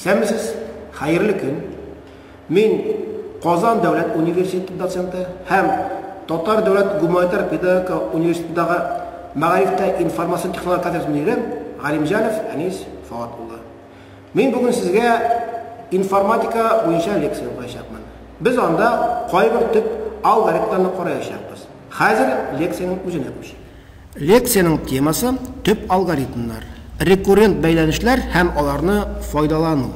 Исәнмесез, хәерле көн. Мин Казан дәүләт университеты доценты һәм Татар дәүләт гуманитар педагогика университетындагы мәгарифтә информацион технология кафедрасы мөдире Галимҗанов Әнис Фоат улы. Мин бүген сезгә информатика буенча лекция укыячакмын. Без анда кайбер төп алгоритмларны караячакбыз. Хәзер лекциянең үзенә күчик. Лекциянең темасы, төп алгоритмнар, рекуррент бәйләнешләр һәм аларны файдалану.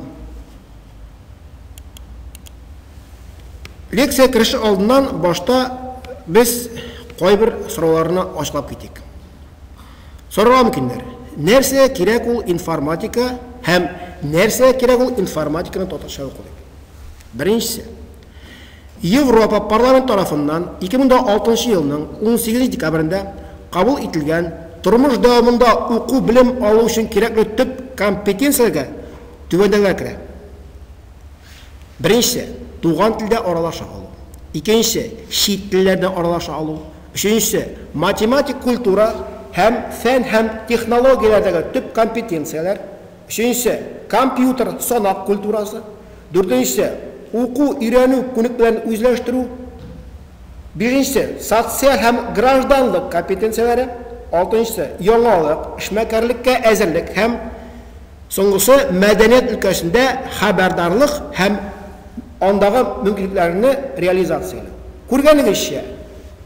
Лекция кереше алдыннан башта без кайбер сорауларны ачыклап китик. Сорарга мөмкиннәр, нәрсә кирәк ул информатика һәм нәрсә кирәк ул информатиканы татарча уку дип. Беренчесе. Европа парламенты тарафыннан 2006 елның 18 декабрендә кабул ителгән Тормыш дәвамында уку-белем алу өчен кирәкле төп компетенцияләргә түбәндәгеләр керә. Беренчесе, туган телдә аралаша алу. Икенчесе, чит телләрдә аралаша алу. Өченчесе, математик культура һәм фән һәм технологияләрдәге төп компетенцияләр. Өченчесе, компьютер, санак культурасы. Дүртенчесе, уку, өйрәнү, күнекмәләрне үзләштерү. Бишенчесе, социаль һәм гражданлык компетенцияләре. Алтынчысы, яңалык, эшмәкәрлеккә әзерлек һәм, соңгысы, мәдәният өлкәсендә хәбәрдарлык һәм андагы мөмкинлекләрне реализацияләү. Күргәнегезчә,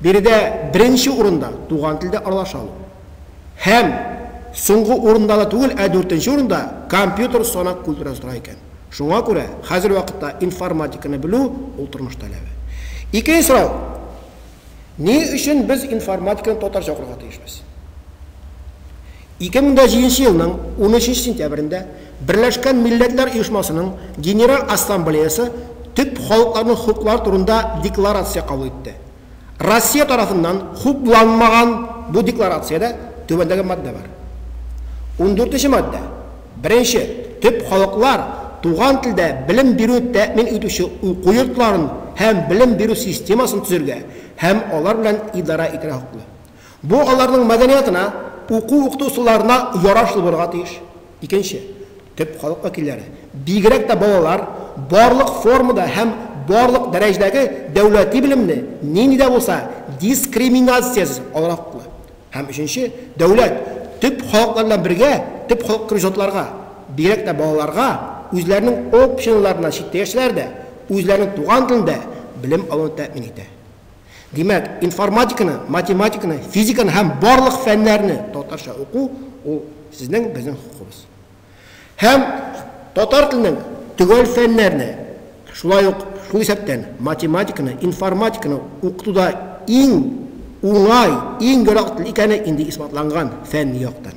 биредә беренче урында туган телдә аралаша алу. Һәм, соңгы урында да түгел, ә дүртенче урында компьютер санак культурасы тора икән. Шуңа күрә хәзерге вакытта информатиканы белү, ул тормыш таләбе. Икенче сорау, Ни өчен без информатиканы татарча укырга тиешбез? 2007 елның 13 сентябрендә Берләшкән Милләтләр Оешмасының Генераль Ассамблеясы Төп халыкларның хокуклары турында декларация кабул итте. Россия тарафыннан хупланмаган бу декларациядә түбәндәге маддә бар. Ундүртенче маддә. Беренче, төп халыклар туган телдә белем бирү тәэмин итүче уку йортларын һәм белем бирү системасын төзергә һәм алар белән идарә итәргә хокуклы. Бу аларның мәдәниятына, уку-укыту ысулларына ярашлы булырга тиеш. Икенче, төп халык вәкилләре, бигрәк тә балалар, барлык формада һәм барлык дәрәҗәдәге дәүләти белемне нинди дә булса дискриминациясез алырга хокуклы. Һәм өченче, дәүләт, төп халыклар белән бергә, төп халык кебек затларга, бигрәк тә балаларга, үзләренең общиныларыннан читтә яшәсәләр дә, үзләренең туган телендә белем алуны тәэмин итә. Димәк, информатиканы, математиканы, физиканы һәм барлык фәннәрне татарча уку, ул сезнең, безнең хокукыбыз. Һәм татар теленең төгәл фәннәрне, шулай ук шул исәптән математиканы, информатиканы укытуда иң уңай, иң ярак тел икәне инде исбатланган фәнни яктан.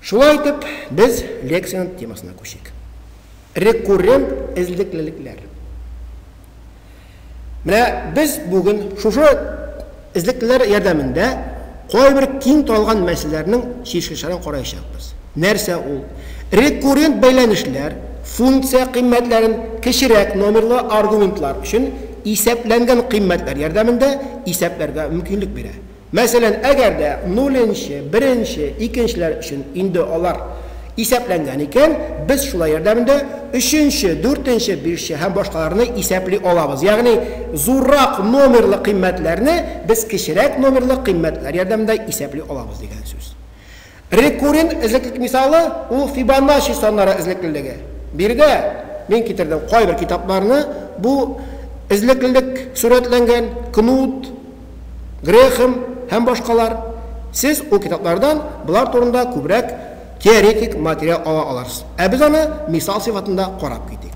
Шулай итеп, без лекциянең темасына күчик. Рекуррент эзлеклелекләр. Менә без бүген шушы эзлеклеләр ярдәмендә кайбер киң таралган мәсьәләләрнең чишелешләрен караячакбыз. Нәрсә ул? Рекуррент бәйләнешләр функция кыйммәтләрен кечерәк номерлы аргументлар өчен исәпләнгән кыйммәтләр ярдәмендә исәпләргә мөмкинлек бирә. Мәсәлән, әгәр дә нуленче, беренче, икенчеләр өчен инде алар исәпләнгән икән, без шулай ярдәмендә өченче, дүртенче, бишче һәм башкаларны исәпли алабыз. Ягъни зуррак номерлы кыйммәтләрне без кечерәк номерлы кыйммәтләр ярдәмендә исәпли алабыз дигән сүз. Рекуррент эзлеклек мисалы, ул Фибоначчи саннары эзлеклелеге. Биредә мин китердем кайбер китапларны, бу эзлеклелек сурәтләнгән, Кнут, Грехем һәм башкалар. Сез ул китаплардан болар турында күбрәк теоретик материал ала алырсыз. Ә без аны мисал сыйфатында карап китик.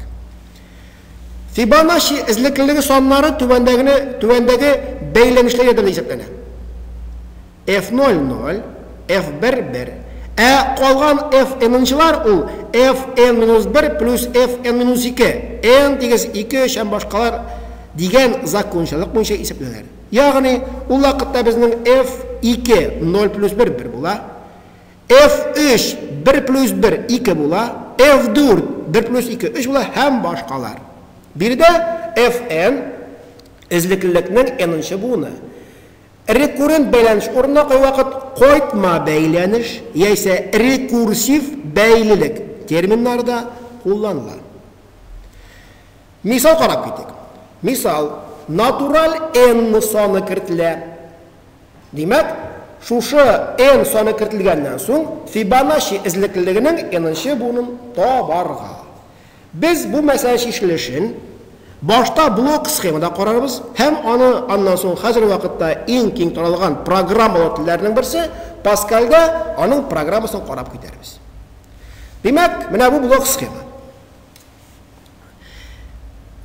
Фибоначчи эзлеклелеге саннары түбәндәгене түбәндәге бәйләнешләр ярдәмендә исәпләнә. F ноль ноль, F бер бер. Ә калган F n-нчылар ул F n минус бер плюс F n минус ике, n тигез ике, өч һәм башкалар дигән закончалык буенча исәпләнәләр. Ягъни, ул вакытта безнең F ике, ноль плюс бер, бер була. F өч, бер плюс бер, ике була. F дүрт, бер плюс ике, өч була һәм башкалар. Биредә F n, эзлеклелекнең n-нчы буыны. Рекуррент бәйләнеш урынына кайвакыт кайтма бәйләнеш яисә рекурсив бәйлелек терминнары да кулланыла. Мисал карап китик. Мисал, натураль n саны кертелә. Димәк, шушы n саны кертелгәннән соң Фибоначчи эзлеклелегенең n-нче буынын табарга. Без бу мәсьәлә чишелешен башта блок-схемада карарбыз һәм аны аннан соң хәзерге вакытта иң киң таралган программалау телләренең берсе Паскальдә аның программасын карап китәрбез. Димәк, менә бу блок-схема.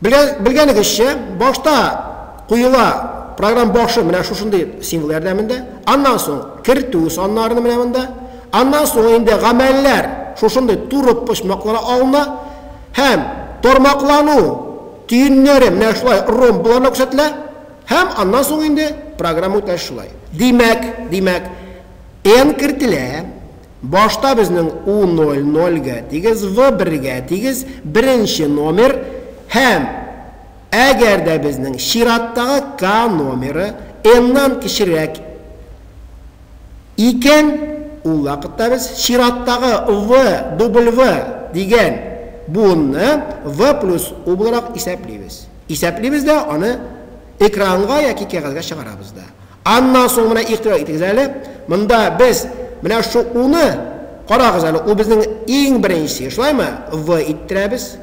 Белгәнегезчә, башта Куела, программ башы менә шушындый символ ярдәмендә, аннан соң кертү саннарыны менә монда, аннан соң инде гамәлләр шушындый туры почмакларга алына һәм тармаклану төеннәре менә шулай ромб-ларда күрсәтелә һәм аннан соң инде программа үтә шулай. Димәк, димәк, n кертелә, башта безнең u ноль нольгә тигез, v бергә тигез, беренче номер һәм. Әгәр дә безнең чираттагы К номеры n-нан кечерәк икән, ул вакытта без чираттагы V, W, дигән буынны V плюс U буларак исәплибез. Исәплибез дә аны экранга яки кәгазьгә чыгарабыз да. Аннан соң менә игътибар итегез әле, монда без менә шул U-ны, карагыз әле, ул безнең иң беренче, шулаймы, V иттерәбез.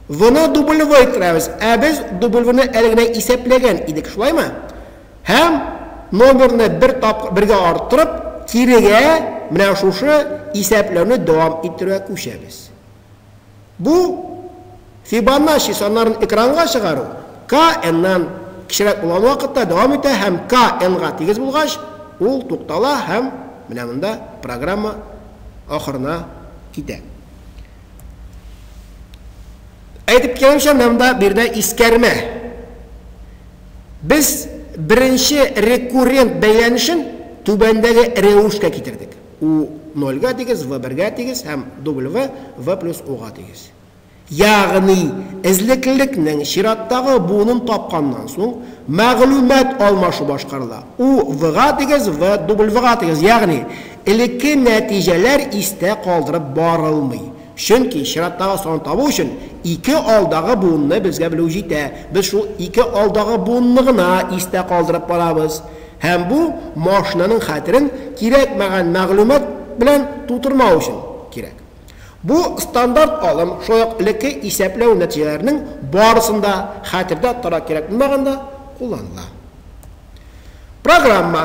V-ны W-й керәбез, ә без W-ны әле генә исәпләгән идек, шулаймы? Һәм номерны бер тапкыр бергә арттырып, кирегә менә шушы исәпләүне дәвам иттерүгә күчәбез. Бу, Фибоначчи саннарын экранга чыгару, k n-нан кечерәк булган вакытта дәвам итә һәм k n-га тигез булгач, ул туктала һәм менә монда программа ахырына китә. Әйтеп киткәнчә, монда биредә искәрмә. Без беренче рекуррент бәйләнешен түбәндәге рәвешкә китердек. U нольгә тигез, V бергә тигез һәм W, V плюс U га тигез. Ягъни, эзлеклелекнең чираттагы буынын тапканнан соң, мәгълүмат алмашу башкарыла. U V га тигез, V W га тигез. Ягъни. Элекке нәтиҗәләр истә калдырып барылмый, чөнки чираттагы санны табу өчен ике алдагы буынны безгә белү җитә, без шул ике алдагы буынны гына истә калдырып барабыз, һәм бу машинаның хәтерен кирәкмәгән мәгълүмат белән тутырмау өчен кирәк. Бу стандарт алым шулай ук элекке исәпләү нәтиҗәләренең барысын да хәтердә тотарга кирәк булмаганда кулланыла. Программа.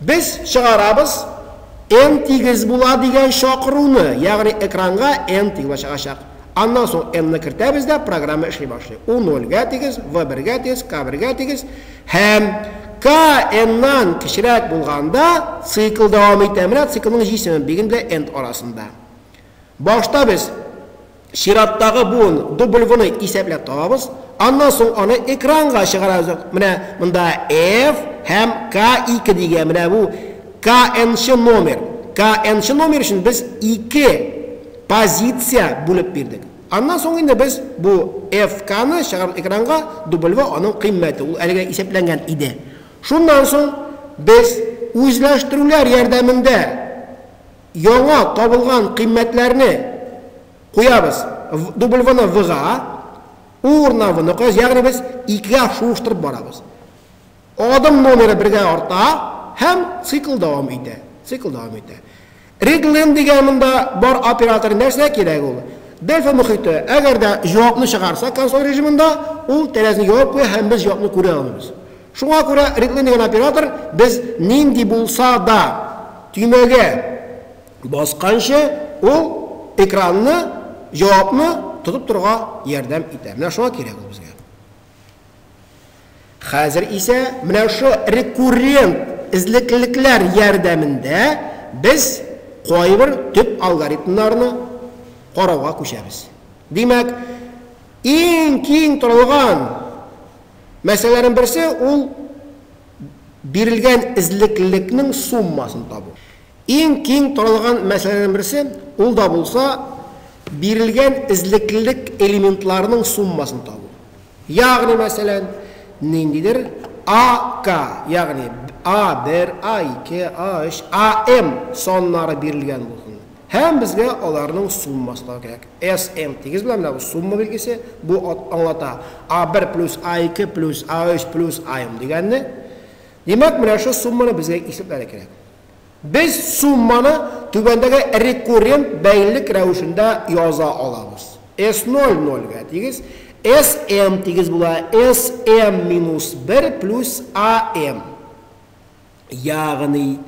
Без чыгарабыз N тигез була дигән чакыруны, ягъни экранга N тигез була чыгачак. Аннан соң N ны кертәбез дә программа эшли башлый. U нольгә тигез, V бергә тигез, K бергә тигез һәм K N-нан кечерәк булганда цикл дәвам итә. Менә циклның җисеме, биген белән N арасында. Башта без Чираттагы буын W-ны исәпләп табабыз, аннан соң аны экранга чыгарабыз. Менә монда F һәм K2 дигән, менә бу K-нчы номер. K-нчы номер өчен без ике позиция бүлеп бирдек. Аннан соң инде без бу FK-ны чыгарабыз экранга, W аның кыйммәте, ул әлегә исәпләнгән иде. Шуннан соң без үзләштерүләр ярдәмендә. яңа табылган кыйммәтләрне куябыз дубль вны вга, у урынына вны куябыз, ягъни без икегә шуыштырып барабыз. Адым номеры бергә арта һәм цикл дәвам итә, цикл дәвам итә. Реглен дигән монда бар оператор нәрсә кирәк ул? Дельфа мохите, әгәр дә җавапны чыгарса консоль режимында, ул тәрәзне ябып куя һәм без җавапны күрә алмыйбыз. Шуңа күрә рядлыйм дигән оператор без нинди булса да төймәгә басканчы ул экранны, җавапны тотып торырга ярдәм итә. Менә шуңа кирәк ул безгә. Хәзер исә менә шу рекуррент эзлекллекләр ярдәмендә без кайбер төп алгоритмнарны карауга күчәбез. Димәк, иң киң таралган, Мәсьәләләрнең берсе, ул бирелгән эзлекллекнең суммасын табу. Иң киң таралган мәсьәләләрнең берсе, ул да булса, бирелгән эзлекллек элементларының суммасын табу. Ягъни, мәсәлән, ниндидер AK, ягъни A1, A2, A3, AM саннары бирелгән булсын. Һәм безгә аларның суммасына кирәк. SM, тигез белән менә бу сумма билгесе, бу аңлата A1 плюс A2 плюс A3 плюс AM дигәнне. Димәк, менә шул сумманы безгә исәпләргә кирәк. Без сумманы түбәндәге рекуррент бәйлелек рәвешендә яза алабыз. S0 нольгә тигез, SM тигез була SM минус 1 плюс AM. Ягъни,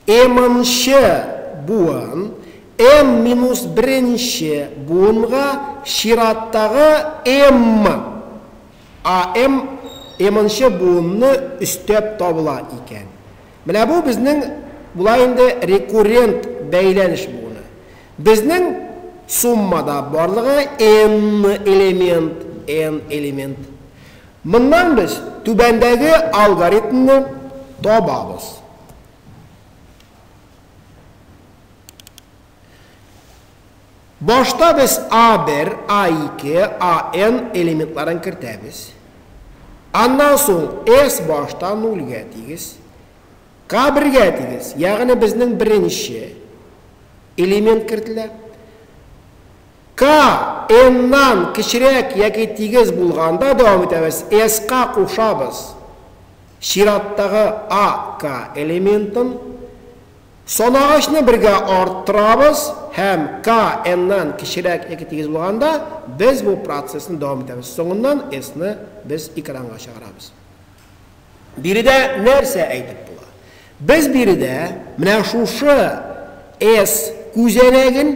М-нче буын М-беренче буынга чираттагы М, а М М-нче буынны өстәп табыла икән. Менә бу безнең була инде рекуррент бәйләнеш буыны. Безнең суммада барлыгы Н элемент, Н элемент. Моннан без түбәндәге алгоритмны табабыз. Башта без A1, A2, AN элементларын кертәбез. Аннан соң S башта нульгә тигез, K бергә тигез, ягъни безнең беренче элемент кертелә. Ка, эннан кечерәк яки тигез булганда дәвам итәбез, эска кушабыз. Чираттагы а, ка элементын. Санагычны бергә арттырабыз һәм ка, эннан кечерәк яки тигез булганда без бу процессны дәвам итәбез. Соңыннан эсны без экранга чыгарабыз. Биредә нәрсә әйтеп була? Без биредә менә шушы S күзәнәген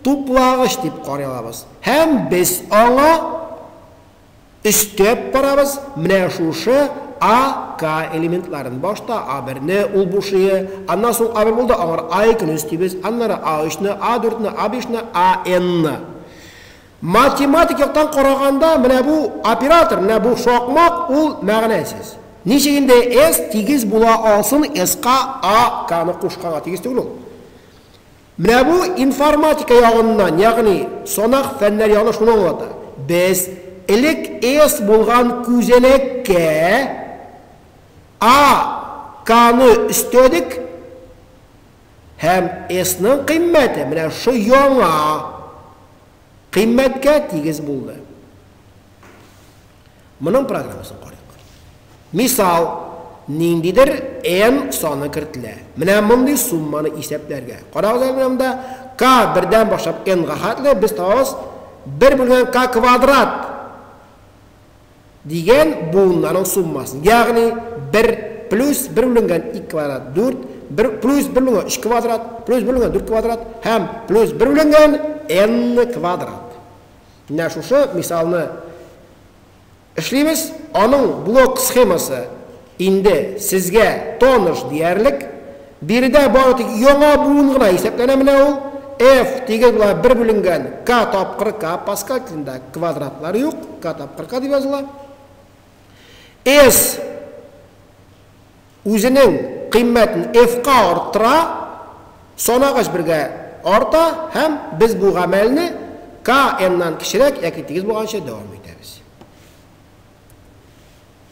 туплагыч дип карый алабыз һәм без аңа өстәп барабыз менә шушы A, K элементларын. Башта A1 не ул бушые, аннан соң A1 булды, аңар A2 не өстибез, аннары A3 не, A4 не, A5 не, AN не. Математик яктан караганда, менә бу оператор, менә бу шакмак, ул мәгънәсез. Ничек инде S тигез була алсын S-ка A, K-ны кушканга тигез түгел ул. Менә бу информатика ягыннан, ягъни санак фәннәр ягыннан шуны аңлата. Без элек S булган күзәнәккә A, K-ны өстәдек һәм S-ның кыйммәте менә шушы яңа Кыйммәткә тигез булды. Моның программасын карыйк. Мисал, ниндидер n саны кертелә. Менә мондый сумманы исәпләргә. Карагыз әле менә монда k бердән башлап n га хәтле без табабыз 1 бүлгән k квадрат. дигән буыннарның суммасын, ягъни бер плюс бер бүленгән ике квадрат, дүрт, бер плюс бер бүленгән өч квадрат, плюс бер бүленгән дүрт квадрат һәм плюс бер бүленгән n квадрат. Менә шушы мисалны эшлибез, аның блок схемасы Инде сезгә таныш диярлек. Биредә бары тик яңа буын гына исәпләнә менә ул. F тигез була бер бүленгән K тапкыр K, Паскаль телендә квадратлар юк, K тапкыр K дип языла. S үзенең кыйммәтен F ка арттыра, санагач бергә арта һәм без бу гамәлне K n нан кечерәк яки тигез булганчы дәвам итәбез.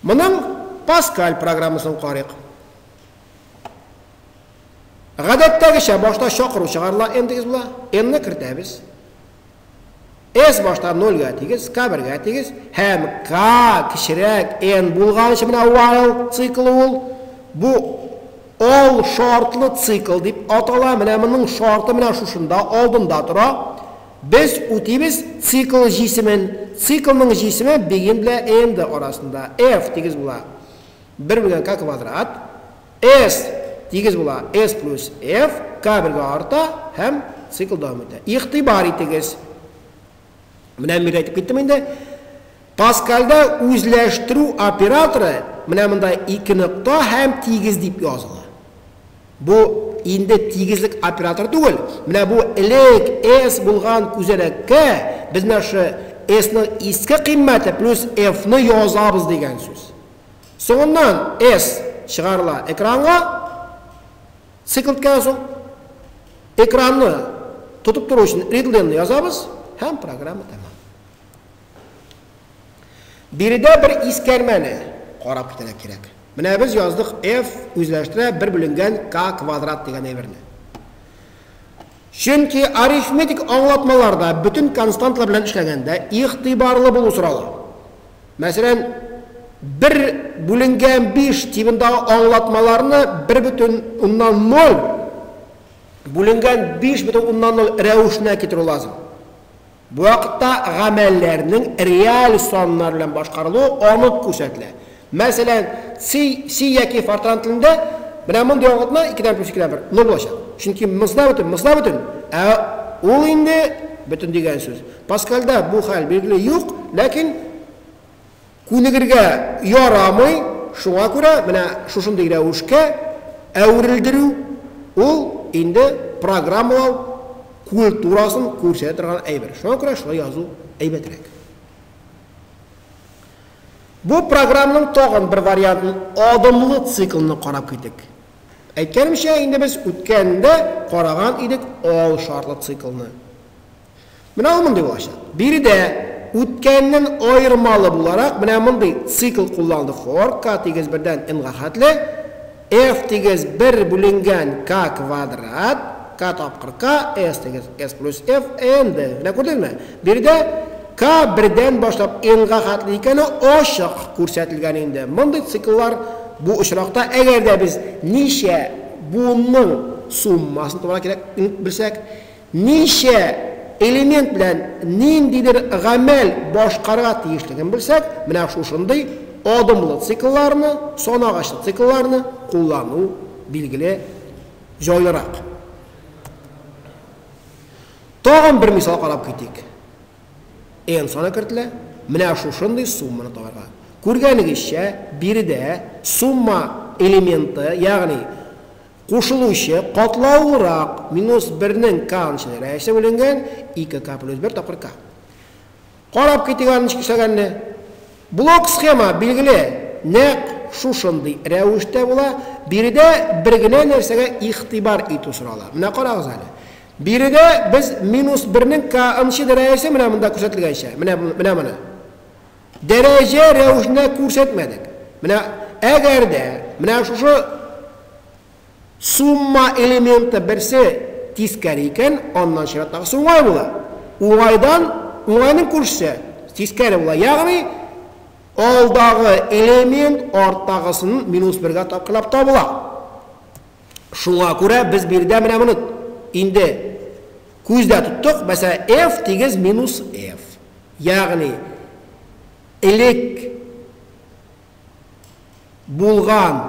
Моның Паскаль программасын карыйк. Гадәттәгечә башта чакыру чыгарыла, n дигез була, n-ны кертәбез. S башта 0 га тигез, k 1 га тигез һәм k кечерәк n булганчы менә while циклы ул. Бу all шартлы цикл дип атала. Менә моның шарты менә шушында алдында тора. Без үтибез цикл җисемен. Циклның җисеме бигем белән м-д арасында, F, тигез була бер бүлгән k квадрат, S, тигез була S плюс F, k бергә арта һәм цикл дәвам итә. Игътибар итегез. Менә мин әйтеп киттем инде. Паскальдә үзләштерү операторы менә монда ике нокта һәм тигез дип языла. Бу инде тигезлек операторы түгел, менә бу элек S булган күзәнәккә без менә шы S-ның иске кыйммәте плюс F-ны язабыз дигән сүз. Соңыннан S чыгарыла экранга, цикл үткәннән соң экранны тотып тору өчен readline-ны язабыз һәм программа тәмам. Биредә бер искәрмәне карап китәргә кирәк. Менә без яздык F үзләштерә бер бүленгән K квадрат дигән әйберне. Чөнки арифметик аңлатмаларда бөтен константлар белән эшләгәндә игътибарлы булу сорала. Мәсәлән, бер бүленгән биш тибындагы аңлатмаларны бер бөтен уннан ноль бүленгән биш бөтен уннан ноль рәвешенә китерү лазым. Бу вакытта гамәлләрнең реаль саннар белән башкарылуы анык күрсәтелә. Мәсәлән, ци, си яки фортран телендә менә мондый аңлатма, икедән плюс икедән бер, ны булачак. Чөнки мзна бөтен, мзла бөтен, ә ул инде бөтен дигән сүз. Паскальдә бу хәл, билгеле, юк, ләкин Күнегергә ярамый, шуңа күрә менә шушындый рәвешкә әверелдерү, ул инде программалау культурасын күрсәтә торган әйбер. Шуңа күрә шулай язу әйбәтрәк. Бу програмның тагын бер вариантын, адымлы циклны карап китик. Әйткәнемчә, инде без үткәндә караган идек ал шартлы циклны. Менә ул мондый булачак. Биредә үткәннән аермалы буларак менә мондый цикл кулланылды, хор, К тигез бердән Н-га хәтле, F тигез бер бүленгән К квадрат, К тапкыр К, S тигез S плюс F, N D. Менә күрдеңме? Биредә К бердән башлап N-га хәтле икәне ачык күрсәтелгән инде. Мондый цикллар бу очракта, әгәр дә без ничә буынның суммасын табарга кирәк, н белсәк, Ничә элемент белән ниндидер гамәл башкарырга тиешлеген белсәк, менә шушындый адымлы циклларны, санагачлы циклларны куллану, билгеле, җайлырак. Тагын бер мисал карап китик. N саны кертелә, менә шушындый сумманы табарга. Күргәнегезчә, биредә сумма элементы, ягъни Кушылучы, катлаулырак, минус бернең каан чыдыра есе бүленгән, ике ка плюс бер тапкыр ка. Карап китик аны ничек эшләгәнне. Блок схема, билгеле, нәкъ шушындый рәвештә була. Биредә бер генә нәрсәгә игътибар итү сорала. Менә карагыз әле. Биредә без минус бернең каан чыдыра есе менә монда күрсәтелгәнчә, менә, менә моны. Дәрәҗә рәвешендә күрсәтмәдек. Менә әгәр дә менә шушы сумма элементы берсе тискәре икән, аннан чираттагысы уңай була. Уңайдан, уңайның күршесе тискәре була. Ягъни, алдагы элемент арттагысын минус бергә тапкырлап табыла. Шуңа күрә без биредә менә моны инде күздә тоттык. Мәсәлән, f тигез минус f. ягъни элек булган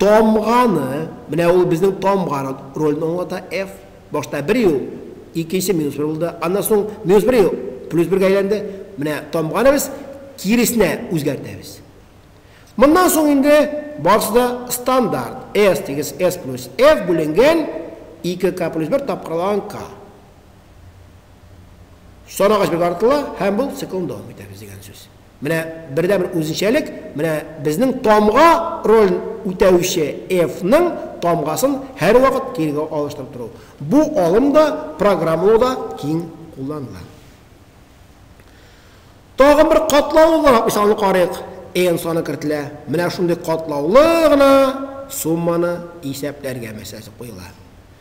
тамганы, менә ул безнең тамга ролен аңлата, F, башта бер ю, икенче минус бер булды, аннан соң минус бер ю плюс бергә әйләнде, менә тамганы без киресенә үзгәртәбез. Моннан соң инде барысы да стандарт, S тигез S плюс F бүленгән 2K плюс 1 тапкырлаган K. Сарыагач бик арытыла һәм бу циклны дәвам итәбез дигән сүз. Менә бердәнбер үзенчәлек, менә безнең тамга ролен үтәүче F-ның тамгасын һәрвакыт кирегә алыштырып тору. Бу алым да, программалауда киң кулланыла. Тагын бер катлаулы буларак мисалны карыйк. N саны кертелә. Менә шундый катлаулы гына сумманы исәпләргә мәсьәләсе куела.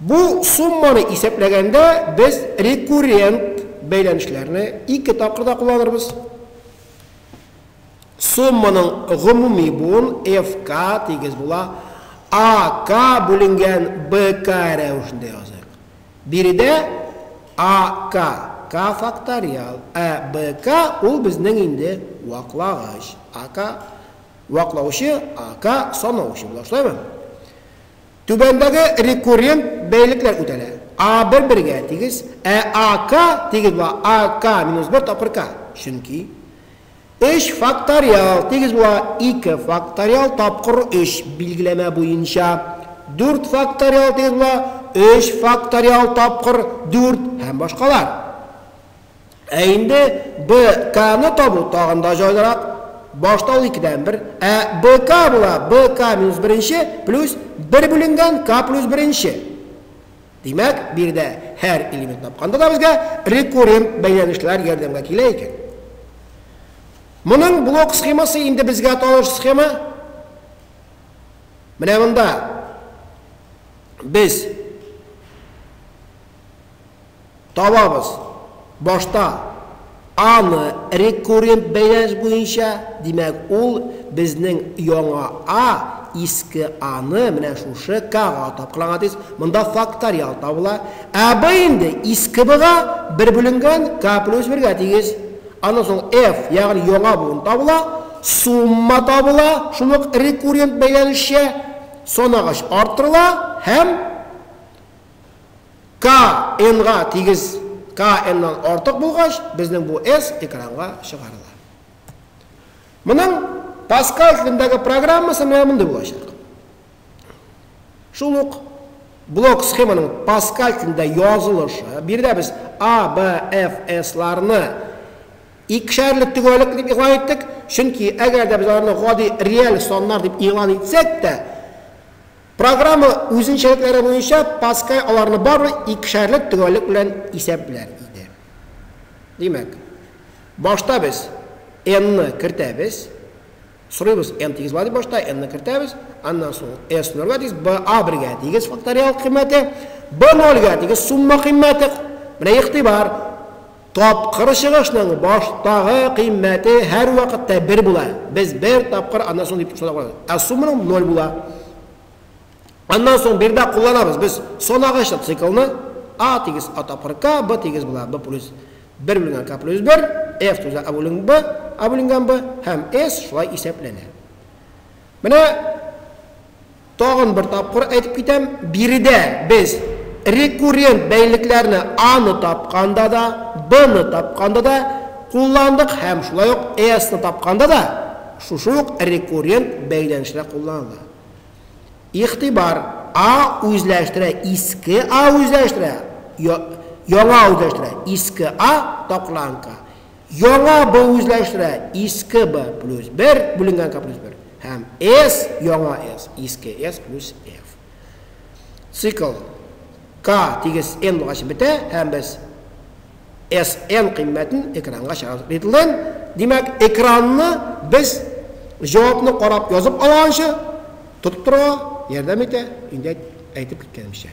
Бу сумманы исәпләгәндә без рекуррент бәйләнешләрне ике тапкырда кулланырбыз. Сумманың гомуми буын FK тигез була AK бүленгән BK рәвешендә языйк. Биредә AK, K факториал, ә BK ул безнең инде ваклагыч. AK, ваклаучы, AK, санаучы була, шулаймы? Түбәндәге рекуррент бәйлекләр үтәлә, a бер бергә тигез, ә a k тигез була, a k минус бер тапкыр k, чөнки өч факториал тигез була ике факториал тапкыр өч билгеләмә буенча, дүрт факториал тигез була өч факториал тапкыр дүрт һәм башкалар. Ә инде БКны табу тагын да җайлырак. Башта ул икедән бер, ә БК була, БК минус беренче плюс бер бүленгән К плюс беренче. Димәк, биредә һәр элемент тапканда да безгә рекуррент бәйләнешләр ярдәмгә килә икән. Моның блок схемасы инде безгә таныш схема. Менә монда без Табабыз. Башта А-ны рекуррент бәйләнеш буенча, димәк, ул безнең яңа А иске А-ны менә шушы К-га тапкырланган диз, монда факториал табыла. Ә Б инде иске Б-га бер бүленгән К плюс бергә тигез. Аннан соң Ф, ягъни яңа буын табыла, сумма табыла, шул ук рекуррент бәйләнешчә, санагач арттырыла һәм. Ка энга тигез ка эннан артык булгач, безнең бу эс экранга чыгарыла. Моның Паскаль телендәге программасы менә мондый булачак. Шул ук блок схеманың Паскаль телендә язылышы, биредә без A, B, F, S ларны икешәрле төгәлек дип игълан иттек, чөнки әгәр дә без аларны гади реаль саннар дип игълан итсәк тә, Программа үзенчәлекләре буенча Паскаль аларны бары икешәрле төгәллек белән исәпләр иде. Димәк, башта без n-ны кертәбез, сорыйбыз n тигезла дип башта n-ны кертәбез, аннан соң s нольгә тигез, b a бергә тигез факториал кыйммәте, b нольгә тигез сумма кыйммәте. Менә игътибар, Тапкыр чыгышның баштагы кыйммәте һәрвакытта бер була. Без бер тапкыр, аннан соң дип санап калабыз. Ә сумманың ноль була. Аннан соң бер дә кулланабыз. Без санагыч циклны А тигез А тапкыр К, Б тигез була Б плюс 1 бүленгән К плюс 1, F туза А бүленгән Б, А бүленгән Б һәм S шулай исәпләнә. Менә Тагын бер тапкыр әйтеп китәм, биредә без рекуррент бәйлекләрне А-ны тапканда да, Б-ны тапканда да кулландык һәм шулай ук С-ны тапканда да шушы ук рекуррент бәйләнешләр кулланыла. Игътибар, А үзләштерә, иске А үзләштерә, я, яңа үзләштерә, иске А, тапкырланган к. Яңа b үзләштерә иске b плюс 1 бүленгән k плюс 1 һәм s яңа s иске s плюс f. Цикл k тигез n булгач бетә һәм без sn кыйммәтен экранга чыгарабыз. Битлен, димәк, экранны без җавапны карап язып алганчы тотып торырга ярдәм итә, инде әйтеп киткәнемчә.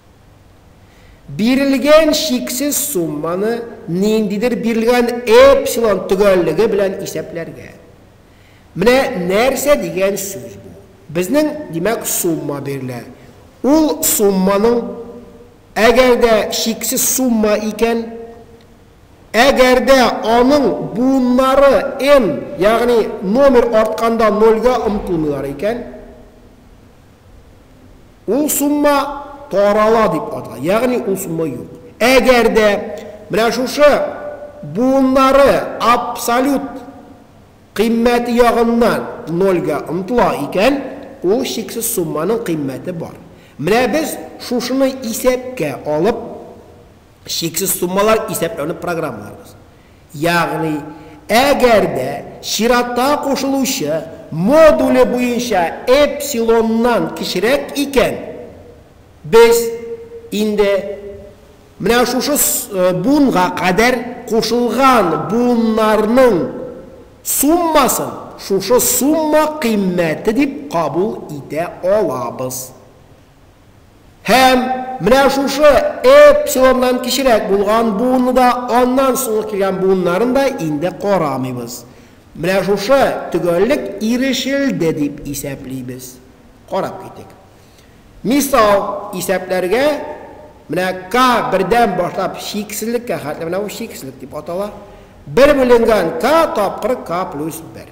Бирелгән чиксез сумманы ниндидер бирелгән эпсилон төгәллеге белән исәпләргә. Менә нәрсә дигән сүз бу. Безнең, димәк, сумма бирелә. Ул сумманың, әгәр дә чиксез сумма икән, әгәр дә аның буыннары n, ягъни номер артканда нольгә омтылмыйлар икән, Ул сумма тарала дип атала, ягъни ул сумма юк. Әгәр дә менә шушы буыннары абсолют кыйммәте ягыннан нольгә омтыла икән, ул чиксез сумманың кыйммәте бар. Менә без шушыны исәпкә алып. Чиксез суммалар исәпләүне программаларыбыз, ягъни әгәр дә чиратта кушылучы модуле буенча эпсилоннан кечерәк икән, без инде менә шушы буынга кадәр кушылган буыннарның суммасын шушы сумма кыйммәте дип кабул итә алабыз. Һәм менә шушы эпсилоннан кечерәк булган буынны да, аннан соңгы килгән буыннарын да инде карамыйбыз. Менә шушы төгәллек ирешелде дип исәплибез. Карап китик. Мисал, исәпләргә менә k бердән башлап чиксезлеккә хәтле, менә бу чиксезлек дип атала, бер бүленгән k тапкыр k плюс бер.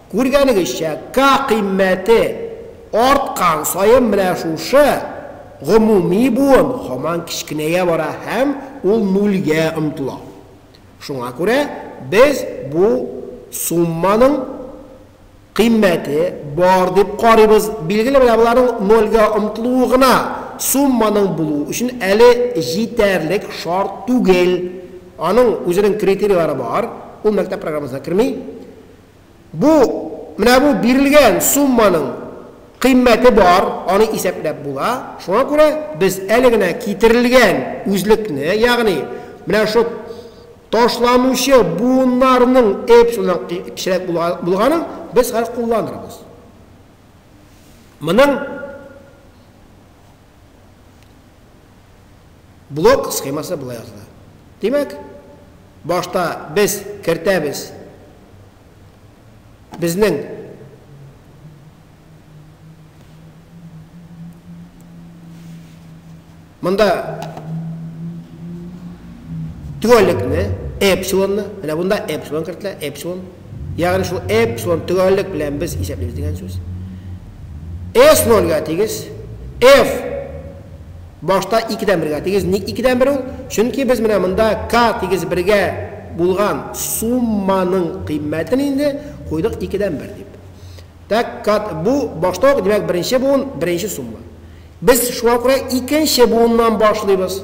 Күргәнегезчә, ка кыйммәте арткан саен менә шушы гомуми буын һаман кечкенәя бара һәм ул нульгә омтыла. Шуңа күрә без бу сумманың кыйммәте бар дип карыйбыз. Билгеле, менә боларның нольгә омтылуы гына сумманың булу өчен әле җитәрлек шарт түгел. Аның үзенең критерийлары бар, ул мәктәп программасына керми. Бу, менә бу бирелгән сумманың кыйммәте бар, аны исәпләп була. Шуңа күрә без әле генә китерелгән үзлекне, ягъни менә шул ташланучы буыннарның эпсилоннан кечерәк булганын без хәзер кулланырбыз. Моның Блок схемасы болай языла. Димәк, башта без кертәбез безнең монда төгәллекне, эпсилонны, менә монда эпсилон кертелә, эпсилон Ягъни шул эпсилон төгәллек белән без исәплибез дигән сүз. S нольгә тигез, F башта икедән бергә тигез. Ник икедән бер ул? Чөнки без менә монда K тигез бергә булган сумманың кыйммәтен инде куйдык икедән бер дип. Так, K бу башта ук, димәк, беренче буын, беренче сумма. Без шуңа күрә икенче буыннан башлыйбыз.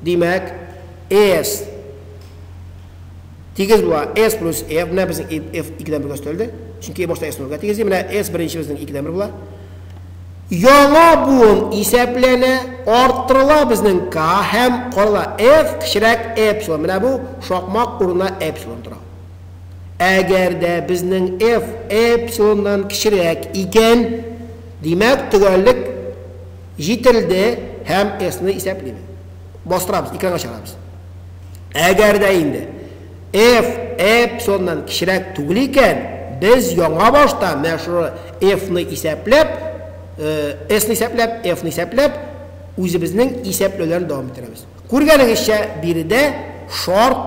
Димәк, S Тигез була S плюс E. Менә безнең E, F икедән бергә өстәлде. Чөнки E башта S нулгә тигез ди. Менә S беренчебезнең икедән бер була. Яңа буын исәпләнә, арттырыла безнең K һәм карала F кечерәк эпсилон. Менә бу шакмак урынына эпсилон тора. Әгәр дә безнең F эпсилоннан кечерәк икән, димәк, төгәллек җителде һәм S-ны исәплибез. бастырабыз, экранга чыгарабыз. Әгәр дә инде f эпсилоннан кечерәк түгел икән, без яңа башта менә шуны f-ны исәпләп, э, s-ны исәпләп, f-ны исәпләп, үзебезнең исәпләүләрне дәвам иттерәбез. Күргәнегезчә, биредә шарт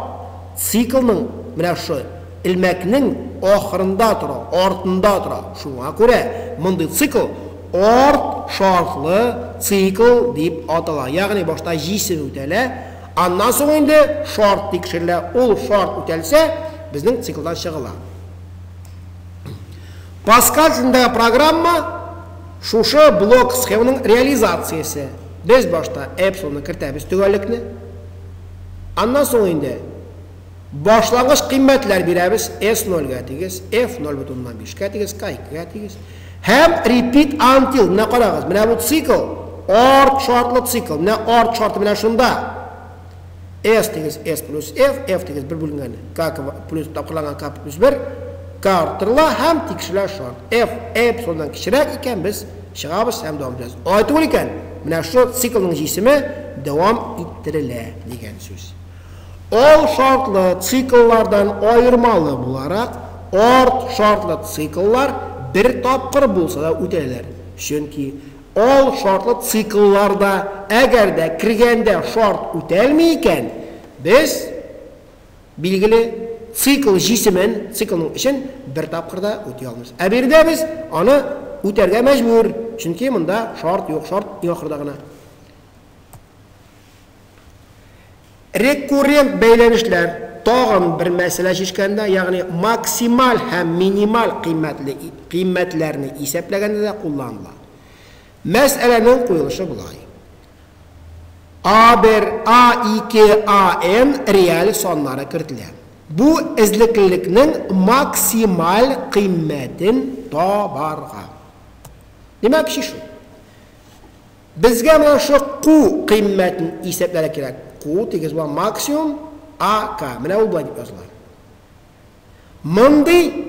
циклның менә шушы элмәкнең ахырында тора, артында тора. Шуңа күрә мондый цикл Орт шартлы цикл дип атала, ягъни башта җисем үтәлә, аннан соң инде шарт тикшерелә, ул шарт үтәлсә, безнең циклдан чыгыла. Паскаль телендәге программа шушы блок схеманың реализациясе. Без башта эпсилонны кертәбез төгәллекне, аннан соң инде Башлангыч кыйммәтләр бирәбез, S ноль гә тигез, F ноль бөтен уннан биш кә тигез, K ике гә тигез. Һәм repeat until, менә карагыз, менә бу цикл, or шартлы цикл, менә or шарты менә шунда. S тигез S плюс F, F тигез бер бүленгән K плюс тапкырланган K плюс бер, K арттырыла һәм тикшерелә шарт. F эпсилоннан кечерәк икән, без чыгабыз һәм дәвам итәбез. Алай түгел икән, менә шул циклның җисеме дәвам иттерелә дигән сүз. Ol шартлы цикллардан аермалы буларак, арт шартлы цикллар бер тапкыр булса да үтәләр, чөнки ал шартлы циклларда, әгәр дә кергәндә шарт үтәлми икән, без, билгеле, цикл җисемен, циклның эчен бер тапкыр да үти алмыйбыз. Ә биредә без аны үтәргә мәҗбүр, чөнки монда шарт юк, шарт иң ахырда гына. Рекуррент бәйләнешләр тагын бер мәсьәлә чишкәндә, ягъни максималь һәм минималь кыйммәтле кыйммәтләрне исәпләгәндә дә кулланыла. Мәсьәләнең куелышы болай. А1, А2, АN реаль саннары кертелә. Бу эзлеклелекнең максималь кыйммәтен табарга. Димәк, чишү. Безгә менә шушы ку кыйммәтен исәпләргә кирәк. Ку тигез була, максимум АК. Менә ул болай дип языла. Мондый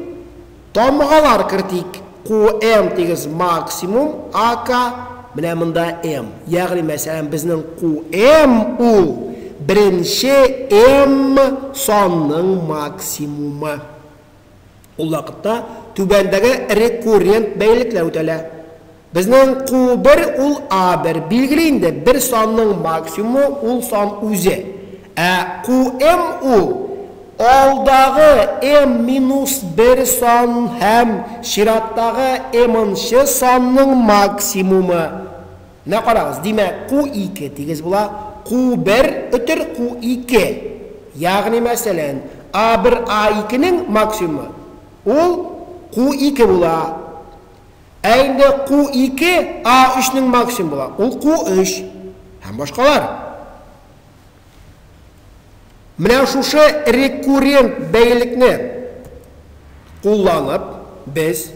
тамгалар кертик. КУМ тигез максимум АК. Менә монда М. Ягъни, мәсәлән, безнең КУМ ул беренче М санның максимумы. Ул вакытта түбәндәге рекуррент бәйлелекләр үтәлә. Безнең Q бер ул A бер. Билгеле инде, бер санның максимумы ул сан үзе. Ә QM ул, алдагы M минус бер сан һәм чираттагы M нчы санның максимумы. Менә карагыз, димәк, QII тигез була, Q бер өтер QII. Ягъни, мәсәлән, A бер A икенең максимумы, ул QII була. Ә инде ку ике а өчнең максимум була, ул ку өч һәм башкалар. Менә шушы рекуррент бәйлекне кулланып, без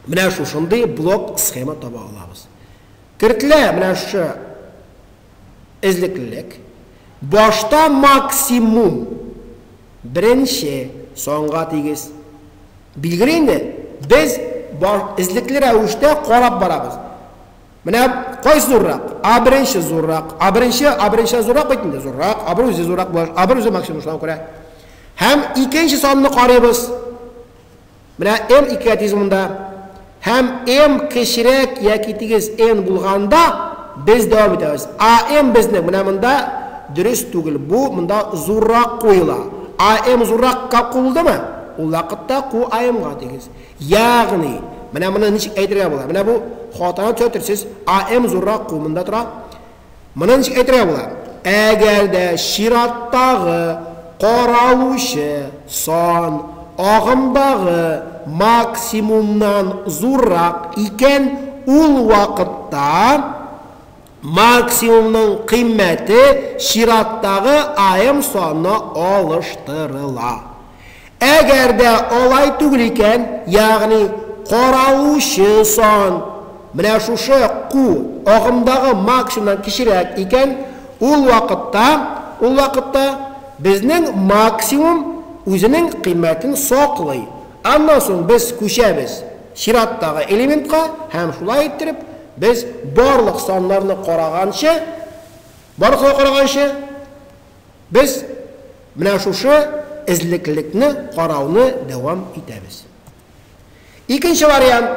менә шушындый блок-схема таба алабыз. Кертелә менә шушы эзлеклелек, башта максимум, беренче, санга тигез. Билгеле инде, без эзлекле рәвештә карап барабыз. Менә кайсы зуррак? А беренче зуррак. А беренче, А беренче зуррак бит инде, зуррак. А бер үзе зуррак була, А бер үзе максимум шуңа күрә. Һәм икенче санны карыйбыз. Менә М ике атеизмында һәм М кечерәк яки тигез Н булганда без дәвам итәбез. А М безнең менә монда дөрес түгел. Бу монда зуррак куела. А М зурракка куылдымы? Ул вакытта ку А Мга тигез. Ягъни, менә моны ничек әйтергә була? Менә бу хатаны төзәтерсез. А М зуррак ку монда тора. Моны ничек әйтергә була? Әгәр дә чираттагы каралучы сан агымдагы максимумнан зуррак икән, ул вакытта максимумның кыйммәте чираттагы аем саны алыштырыла. Әгәр дә алай түгел икән, ягъни каралучы сан менә шушы ку агымдагы максимумнан кечерәк икән, ул вакытта, ул вакытта безнең максимум үзенең кыйммәтен саклый. Аннан соң без күчәбез чираттагы элементка һәм шулай иттереп без барлык саннарны караганчы, барлык саннарны караганчы, Без менә шушы эзлеклекне карауны дәвам итәбез. Икенче вариант,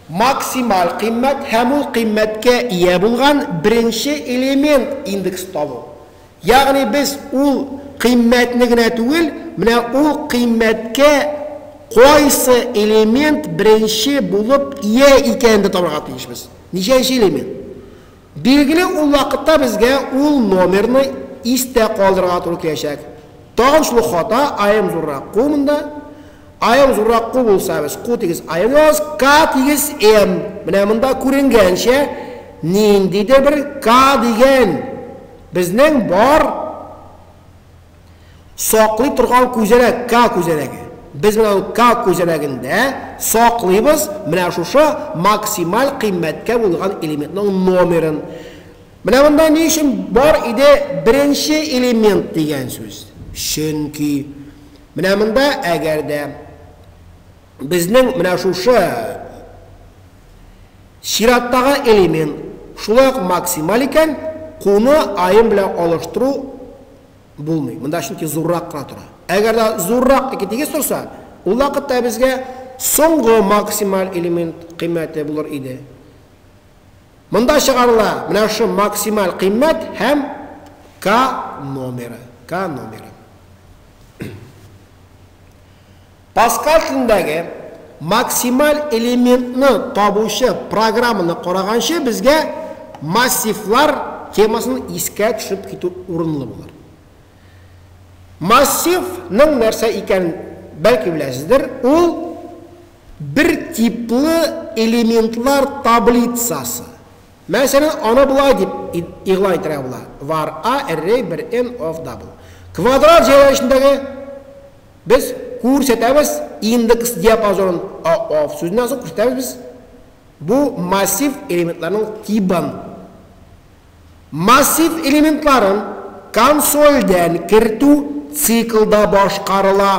максималь кыйммәт һәм ул кыйммәткә ия булган беренче элемент индекс табу. Ягъни без ул кыйммәтне генә түгел, менә ул кыйммәткә кайсы элемент беренче булып ия икәнен дә табарга тиешбез. Ничәнче элемент? Билгеле, ул вакытта безгә ул номерны истә калдырырга туры киләчәк. Тагын шул ук хата, аем зуррак ку монда. Аем зуррак ку булса, без ку тигез аем язабыз, К тигез М. Менә монда күренгәнчә, ниндидер бер К дигән безнең бар. Саклый торган күзәнәк, К күзәнәге. Без менә ул К күзәнәгендә саклыйбыз менә шушы максималь кыйммәткә булган элементның номерын. Менә монда ни өчен бар иде беренче элемент дигән сүз? Чөнки менә монда әгәр дә Безнең менә шушы чираттагы элемент шулай ук максималь икән, куны аем белән алыштыру булмый. Монда чөнки зуррак кына тора. Әгәр дә зуррак ике тигез торса, ул вакытта безгә соңгы максималь элемент кыйммәте булыр иде. Монда чыгарыла менә шушы максималь кыйммәт һәм К номеры. К номеры. Паскаль телендәге максималь элементны табучы программаны караганчы безгә массивлар темасын искә төшереп китү урынлы булыр. Массив ның нәрсә икәнен бәлки беләсездер, ул бер типлы элементлар таблицасы. Мәсәлән, аны болай дип игълан итәргә була, var a array 1 n of double. Квадрат җәяүләнешендәге Без кү-рсәтәбез индекс диапазонын, АОФ сүзеннән соң күрсәтәбез без бу массив элементларның тибын. Массив элементларын консольдән кертү циклда башкарыла.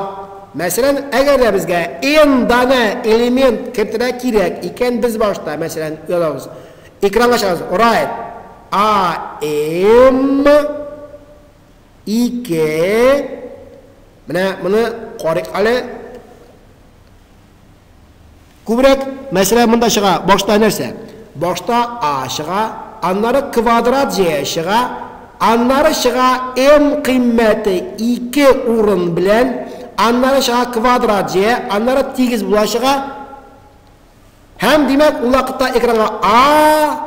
Мәсәлән, әгәр дә безгә N данә элемент кертергә кирәк икән, без башта, мәсәлән, язабыз, экранга чыгарабыз, write a-m, Ике. Менә моны карыйк әле. Күбрәк мәсьәлә монда чыга. Башта нәрсә? Башта А чыга, аннары квадрат җәя чыга, аннары чыга М кыйммәте 2 урын белән, аннары чыга квадрат җәя, аннары тигез була чыга. Һәм, димәк, ул вакытта экранга А,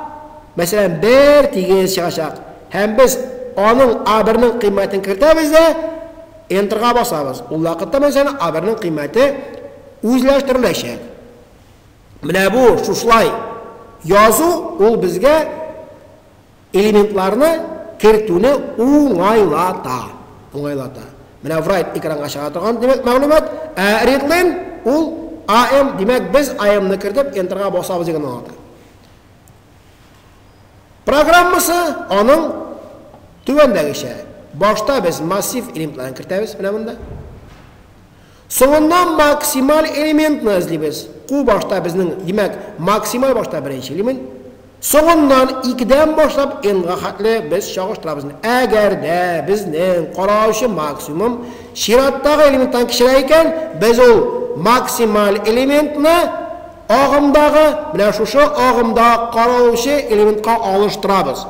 мәсәлән, 1 тигез чыгачак. Һәм без аның А1-ның кыйммәтен кертәбез дә Enter-га басабыз. Ул вакытта, мәсәлән, А1-ның кыйммәте үзләштереләчәк. Менә бу шушлай язу ул безгә Элементларны кертүне уңайлата. Уңайлата. Менә write экранга чыга торган димәк мәгълүмат, ә readline ул am димәк без am-ны кертеп enter-га басабыз дигән аңлата. Программасы аның түбәндәгечә. Башта без массив элементларын кертәбез менә монда. Соңыннан максималь элементны эзлибез. Ку башта безнең, димәк, максималь башта беренче элемент. Соңыннан, икедән башлап n-га хәтле без чагыштырабыз. Әгәр дә безнең каралучы максимум чираттагы элементтан кечерәк икән, без ул максималь элементны агымдагы, менә шушы агымда каралучы элементка алыштырабыз.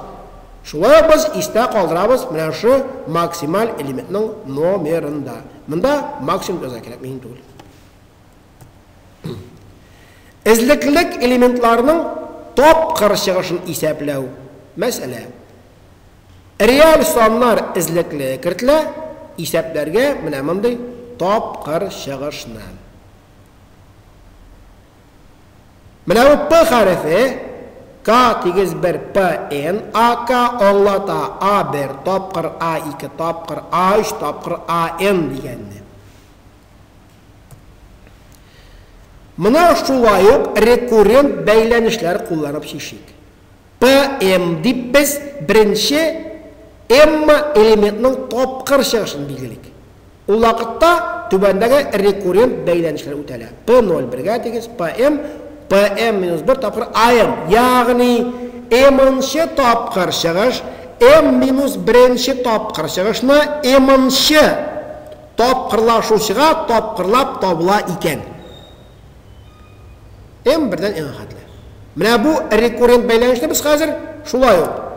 Шулай ук без истә калдырабыз менә шушы максималь элементның номерын да. Монда максимум яза кирәк, мин түгел. Эзлеклек элементларының тапкыр чыгышын исәпләү. Мәсьәлә. Реаль саннар эзлекле кертелә, исәпләргә менә мондый тапкыр чыгышны. Менә бу П хәрефе, К тигез бер П Н А К аңлата А бер тапкыр, А ике тапкыр, А өч тапкыр, А Н дигәнне. Моны шулай ук рекуррент бәйләнешләр кулланып чишик. PM дип без беренче Эмма элементның тапкыр чыгышын билгелик. Ул вакытта түбәндәге рекуррент бәйләнешләр үтәлә, P0 бергә тигез, PM, PM минус бер тапкыр AM, ягъни m-нчы тапкыр чыгыш m минус беренче тапкыр чыгышны m-нчы тапкырлашучыга тапкырлап табыла икән. М бердән иң хәтле. Менә бу рекуррент бәйләнешне без хәзер шулай ук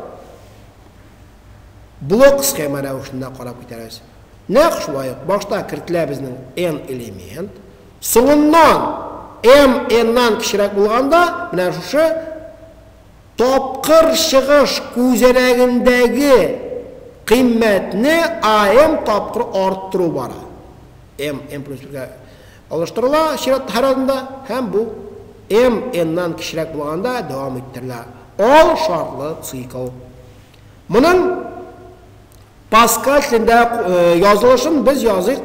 блок схема рәвешендә карап китәрбез. Нәкъ шулай ук башта кертелә безнең n элемент, соңыннан m n-нан кечерәк булганда, менә шушы тапкыр чыгыш күзәнәгендәге кыйммәтне am тапкыр арттыру бара. m m плюс 1-гә Алыштырыла чират һәр адымда һәм бу М N-нан кечерәк булганда дәвам иттерелә ал шартлы цикл. Моның Паскаль телендә язылышын без языйк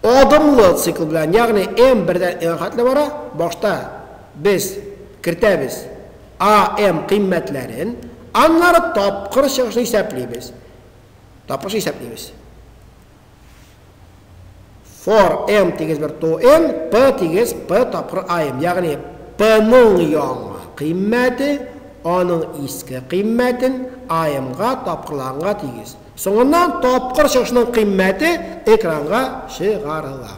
адымлы цикл белән, ягъни М бердән N-га хәтле бара, башта без кертәбез A M кыйммәтләрен, аннары тапкыр чыгышны исәплибез. Тапкыр чыгышны исәплибез. for n тигез бер to n, p тигез p тапкыр im. Ягъни p-ның яңа кыйммәте аның иске кыйммәтен im-га тапкырланганга тигез. Соңыннан тапкыр чыгышының кыйммәте экранга чыгарыла.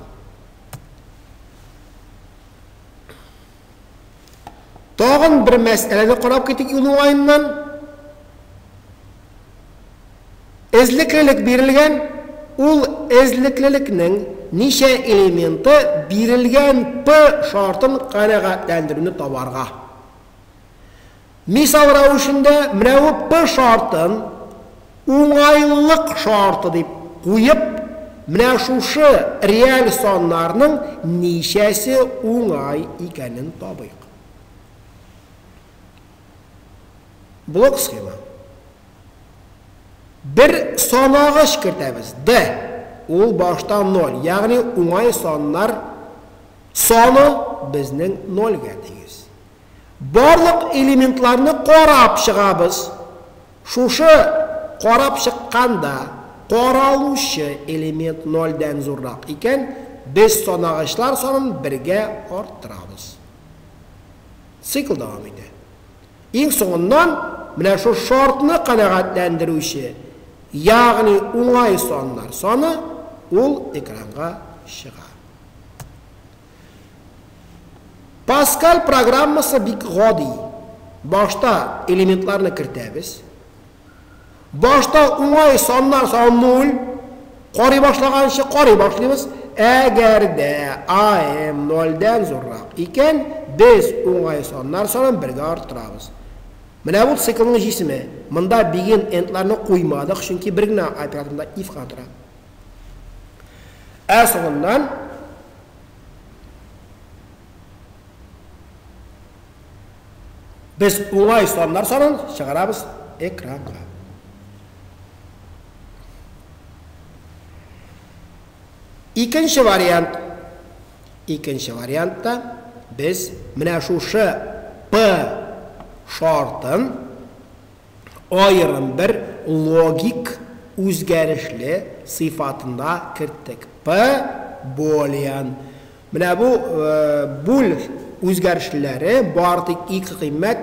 Тагын бер мәсьәләне карап китик юл уңаеннан. Эзлеклелек бирелгән, ул эзлеклелекнең ничә элементы бирелгән P шартын канәгатьләндерүне табарга. Мисал рәвешендә, менә ү П шартын уңайлылык шарты дип куеп, менә шушы реаль саннарның ничәсе уңай икәнен табыйк. Блок схема. Бер санагыч кертәбез, D. Ул башта 0, ягъни уңай саннар саны безнең 0 гә тигез. Барлык элементларны карап чыгабыз. Шушы карап чыкканда каралучы элемент нольдән зуррак икән, без санагычлар санын бергә арттырабыз. Цикл дәвам итә. Иң соңыннан менә шул шартны канәгатьләндерүче, ягъни уңай саннар саны, ул экранга чыга. Паскаль программасы бик гади. Башта элементларны кертәбез. Башта уңай саннар саны 0, карый башлаганчы карый башлыйбыз. Әгәр дә АМ 0-дән зуррак икән, без уңай саннар санын бергә арттырабыз. Менә бу циклның җисеме. Монда бигенд эндларны куймадык, чөнки бер генә операторында if кына тора. Ә соңыннан без уңай саннар санын чыгарабыз экранга. Икенче вариант. Икенче вариантта без менә шушы P шартын аерым бер логик үзгәрешле сыйфатында керттек, п болиан. Менә бу буль үзгәрешлеләре бары тик ике кыйммәт,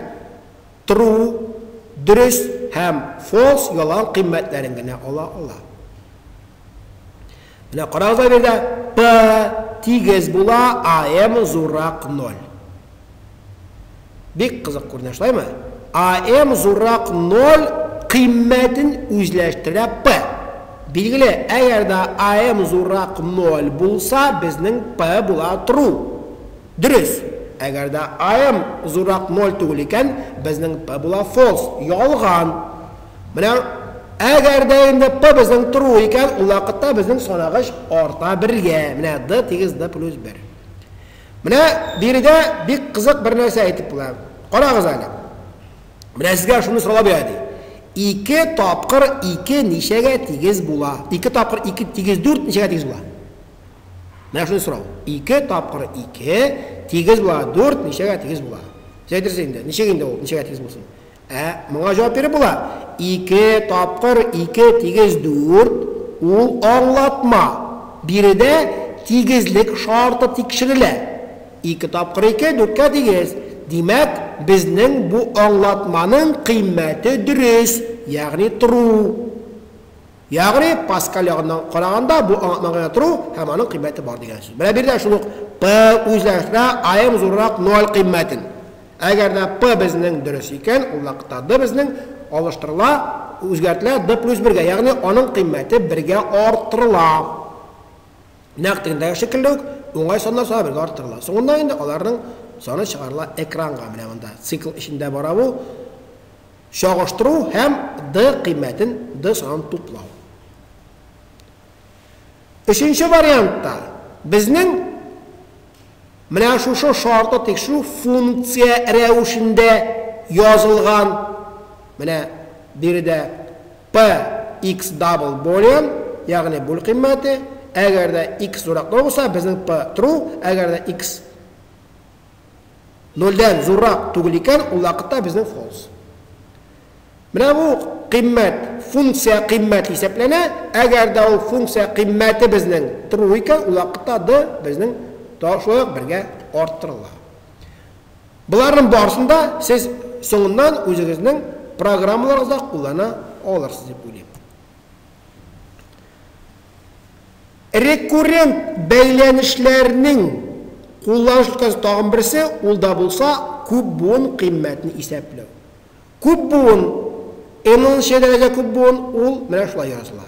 true, дөрес, һәм false, ялган, кыйммәтләрен генә ала ала. Менә карагыз да биредә P тигез була AM зуррак 0. Бик кызык күренә, шулаймы? AM зуррак 0 кыйммәтен үзләштерә P. Билгеле, әгәр дә AM зуррак 0 булса, безнең P була true. Дөрес. Әгәр дә AM зуррак 0 түгел икән, безнең P була false, ялган. Менә әгәр дә инде П безнең тору икән, ул вакытта безнең санагыч арта бергә. Менә D тигез D плюс 1. Менә биредә бик кызык бер нәрсә әйтеп була. Карагыз әле. Менә сезгә шуны сорап бирә ди. 2 тапкыр 2 ничәгә тигез була? 2 тапкыр 2 тигез 4 ничәгә тигез була? Менә шуны сорау. 2 тапкыр 2 тигез була 4 ничәгә тигез була? Сез әйтерсез инде. Ничек инде ул? Ничәгә тигез булсын? Ә моңа җавап биреп була, ике тапкыр ике тигез дүрт, ул аңлатма. Биредә тигезлек шарты тикшерелә. Ике тапкыр ике, дүрткә тигез. Димәк, безнең бу аңлатманың кыйммәте дөрес, ягъни тру. Ягъни, Паскаль ягыннан караганда, бу аңлатма гына тру һәм аның кыйммәте бар дигән сүз. Менә биредә шул ук P үзләштерә, Am зуррак ноль кыйммәтен. Әгәр дә П безнең дөрес икән, ул вакытта Д безнең алыштырыла, үзгәртелә Д плюс бергә, ягъни аның кыйммәте бергә арттырыла. Нәкъ тегендәге шикелле үк, уңай саннар саны бергә арттырыла. Соңыннан инде аларның саны чыгарыла экранга. Менә монда цикл эчендә бара бу. Чагыштыру һәм Д кыйммәтен, Д санын туплау. Өченче вариантта безнең менә шушы шартлы тикшерү функция рәвешендә язылган. Менә биредә P x double boolean, ягъни бүл кыйммәте, әгәр дә x зуррак ноль булса, безнең P true, әгәр дә x нольдән зуррак түгел икән, ул вакытта безнең false. Менә бу кыйммәт, функция кыйммәте исәпләнә, әгәр дә ул функция кыйммәте безнең true икән, ул вакытта d безнең шулай ук бергә арттырыла. Боларның барысын да сез соңыннан үзегезнең программаларыгызда куллана алырсыз дип уйлыйм. Рекуррент бәйләнешләрнең кулланыш өлкәсе тагын берсе, ул да булса күп буын кыйммәтне исәпләү. Күп буын, n-нчы дәрәҗә күп буын, ул менә шулай языла,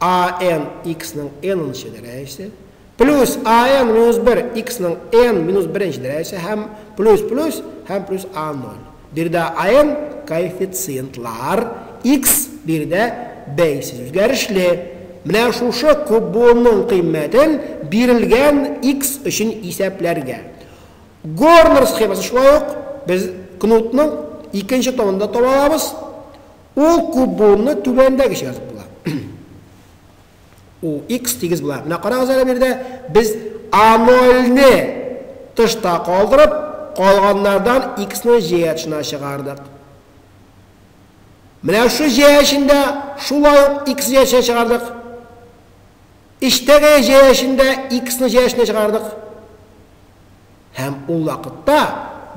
AN, x-ның n-нчы дәрәҗәсе, плюс AN минус 1, x-ның n минус беренче дәрәҗәсе, һәм плюс, плюс, һәм плюс A0. Биредә AN коэффициентлар, x биредә бәйсез үзгәрешле. Менә шушы күп буынның кыйммәтен бирелгән x өчен исәпләргә. Горнер схемасы шулай ук без кнутның икенче томын да таба алабыз. Ул күп буынны түбәндәгечә язып була. Ул x тигез була. Менә карагыз әле бирдә, без a0-не тышта калдырып, калганнардан x-ны җәя тышына чыгардык. Менә шушы җәя эчендә шулай ук x җәя тышына чыгардык. Эчтәге җәя эчендә x-ны җәя тышына чыгардык. Һәм ул вакытта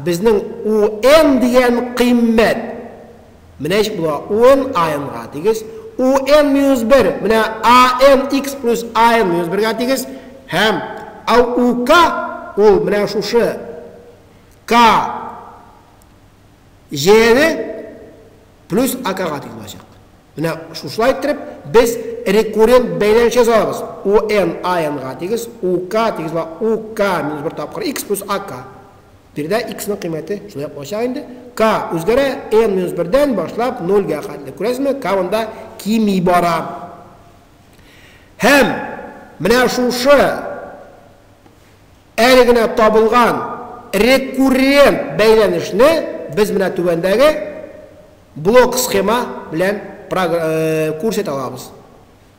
безнең UN дигән кыйммәт, менә ничек була, UN AN га тигез, UN минус бер, менә AN X плюс AN минус бергә тигез, һәм AUK ул менә шушы K J плюс AK га тигез булачак. Менә шушылай иттереп, без рекуррент бәйләнеш язабыз. UN IN-га тигез, UK тигез була, UK минус бер тапкыр X плюс AK. Биредә X-ның кыйммәте шулай ук булачак инде. K үзгәрә, N минус бердән башлап нольгә хәтле. Күрәсезме, K монда кими бара. Һәм менә шушы Әле генә табылган рекуррент бәйләнешне без менә түбәндәге блок-схема белән күрсәтә алабыз.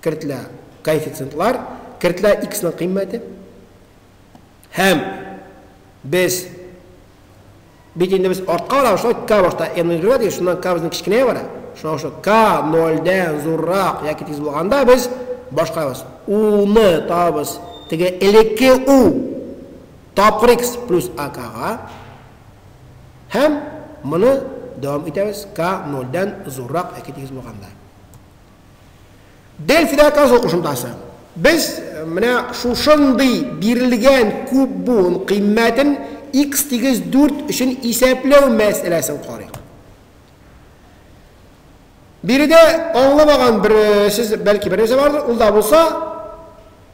Кертелә коэффициентлар, кертелә x-ның кыйммәте. Һәм без Бит инде без артка карап шулай К башта М белән җөргәдек, шуннан К безнең кечкенәя бара. Шуңа күрә К нольдән зуррак яки тигез булганда без башкарабыз. Уны табабыз теге элекке У тапкыр X плюс АКга һәм моны дәвам итәбез К нольдән зуррак яки тигез булганда. Бел фидакасы кушымтасы. Без менә шушындый бирелгән күп буын кыйммәтен x тигез 4 өчен исәпләү мәсьәләсен карыйк. Биредә аңламаган бер сез бәлки бер нәрсә бардыр, ул да булса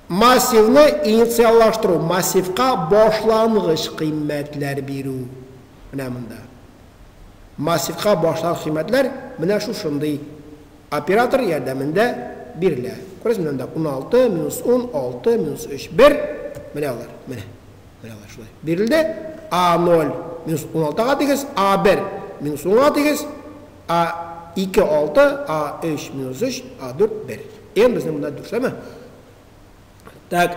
массивны инициаллаштыру, массивка башлангыч кыйммәтләр бирү. менә монда. Массивка башлар кыйммәтләр менә шушындый оператор ярдәмендә бирелә. Күрәсезме, менә монда уналты, минус ун, алты, минус өч, бер. Менә алар, менә. Менә алар шулай бирелде. А ноль, минус уналтыга тигез, А бер, минус унга тигез, А ике, алты, А өч, минус өч, А дүрт, бер. Н безнең монда дүрт, шулаймы? Так,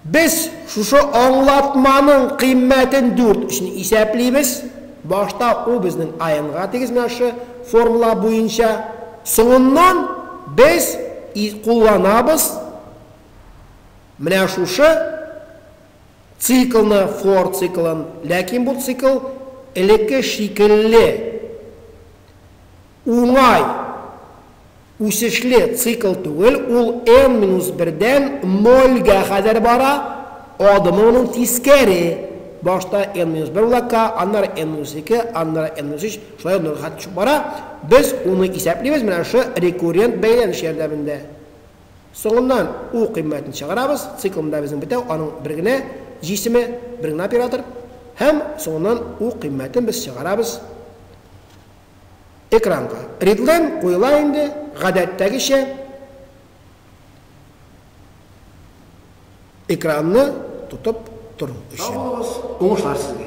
без шушы аңлатманың кыйммәтен дүрт өчен исәплибез. Башта ул безнең АНга тигезмәше формула буенча. Соңыннан без кулланабыз менә шушы циклны, for циклын. Ләкин бу цикл элекке шикелле уңай. Үсешле цикл түгел, ул n минус бердән нольгә кадәр бара, адымы моның тискәре, башта n минус бер була k, аннары n минус ике, аннары n минус өч, шулай нольгә кадәр төшеп бара, без уны исәплибез менә шы рекуррент бәйләнеш ярдәмендә. Соңыннан u кыйммәтен чыгарабыз, цикл монда безнең бетәү, аның бер генә җисеме, бер генә оператор, һәм соңыннан u кыйммәтен без чыгарабыз, Экранга редлен куела инде, гадәттәгечә. Экранны тотып тору өчен. Сау булыгыз, уңышлар сезгә!